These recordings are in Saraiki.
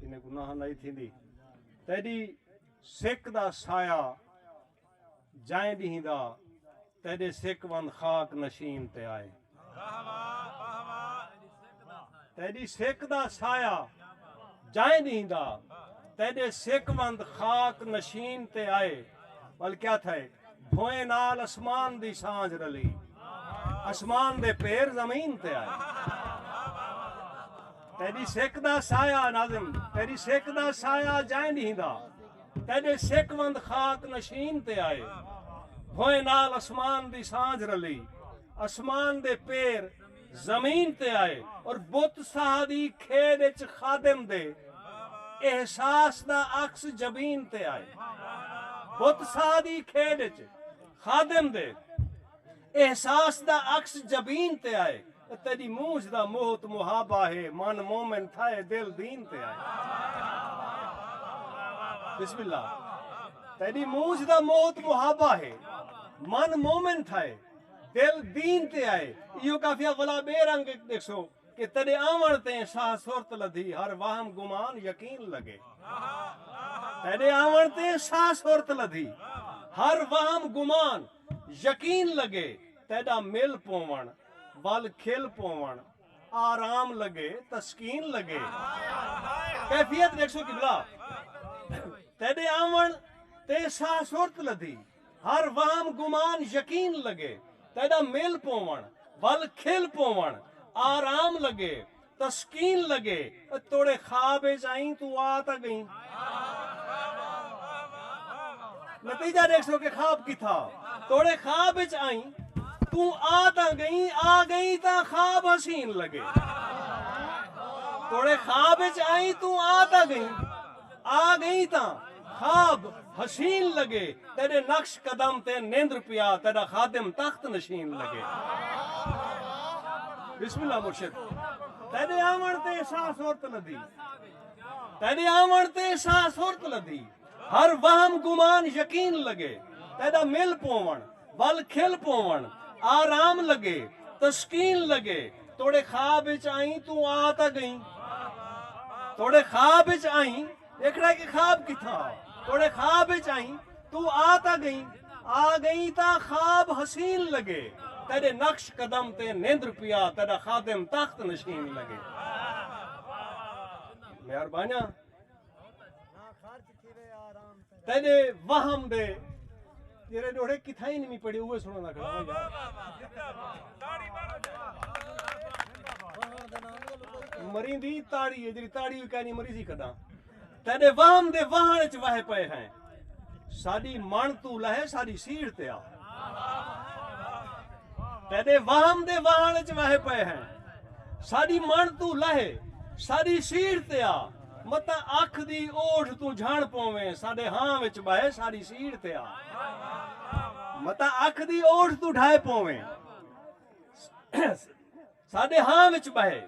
انہیں گناہ نئیں تھیندی۔ تیݙی سک دا سایہ جائیں ݙینہہ دا تیݙے سک وند خاک نشین تے آئے۔ تیݙی سک دا سایہ جائیں ݙینہہ دا تیݙے سک وند خاک نشین تے آئے۔ بلکہ آتھائے۔ بھوئیں نال اسمان دی سانجھ رلی۔ اسمان دے پیر زمین تے آئے۔ تیڈی سک دا سایہ ناظم تیڈی سک دا سایہ جائیں ڈینہہ دا تیڈے سک وند خاک نشین تے آئے۔ بھوئیں نال اسمان دی سانجھ رلی۔ اسمان دے پیر زمین تے آئے اور بت ساہ دی کھیݙ اچ خادم دے احساس دا عکس جبین تے آئے بت ساہ دی کھیݙ اچ خادم دے احساس دا عکس جبین تے آئے تیݙی مونجھ دا محت محابہ ہے من مومن تھائے دل دین تے آئے بسم اللہ تیݙی مونجھ دا محت محابہ ہے من مومن تھائے دل دین تے آئے ایہو قافیہ ولا بے رنگ اچ ڈیکھسو کہ تیڈے آون تے ساہ سرت لدھی ہر وہم گمان یقین لگے تیڈے آون تے ساہ سرت لدھی ہر وہم گمان یقین لگے تیڈا مل پوون ول کھل پوون آرام لگے تسکین لگے کیفیت ڈیکھسو قبلہ تیڈے آون تے ساہ سرت لدھی ہر وہم گمان یقین لگے تیݙا مل پووݨ ول کھل پووݨ آرام لگے تسکین لگے اے توڑے خواب اچ آئیں توں آ تاں ڳئیں نتیجہ ݙیکھسو کہ خواب کتھا توڑے خواب اچ آئیں توں آ تاں ڳئیں آ ڳئیں تاں خواب حسین لگے توڑے خواب اچ آئیں توں آ تاں ڳئیں آ گئیں تاں خواب حسین لگے تیڈے نقش قدم تے نیندر پیا تیڈا خادم تخت نشین لگے بسم اللہ مرشد تیڈے آون تے سا سرت لدھی تیڈے آون تے سا سرت لدھی ہر وہم گمان یقین لگے تیڈا مل پوون ول کھل پوون آرام لگے تسکین لگے توڑے خواب اچ آئیں توں آ تاں گئیں توڑے خواب اچ آئیں دیکھنا ہے کہ خواب کتھاں ہا توڑے خواب اچ آئیں توں آ تاں گئیں آ گئیں تاں خواب حسین لگے تیڈے نقش قدم تے نیندر پیا تیڈا خادم تخت نشین لگے مہربانیاں تیڈے وہم دے جیرے ڈوڑے کتھا ہی نمی پڑے ہوئے سنو نہ کرو مرین دی تاڑی ہے جیری تاڑی ہوئی کہنی مریضی کدا تیڈے وہم دے وہن اچ وہے پے ہیں ساڑی من تو لہے ساڑی سیڑ تے آ تیڈے وہم دے وہن اچ وہے پے ہیں ساڑی من تو لہے ساڑی سیڑ تے آ متاں اکھ دی اوڑھ توں جھنڑ پوویں ساڈے ہاں وچ بہہ ساڈی سیڑھ تے آ متاں اکھ دی اوڑھ توں ڈھائے پوویں ساڈے ہاں وچ بہے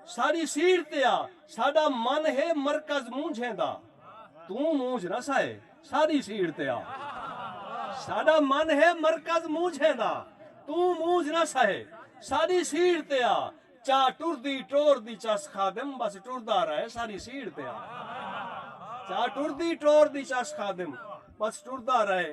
ساڈی سیڑھ تے آ ساڈا من ہے مرکز مونجھیں دا توں مونجھ نہ سائے ساڈی سیڑھ تے آ ساڈا من ہے مرکز مونجھیں دا توں مونجھ نہ سائے ساڈی سیڑھ تے آ چا ٹردی ٹور دی چس خادم بس ٹردا رہے ساری سیڑھ تے آ چا ٹردی ٹور دی چس خادم بس ٹردا رہے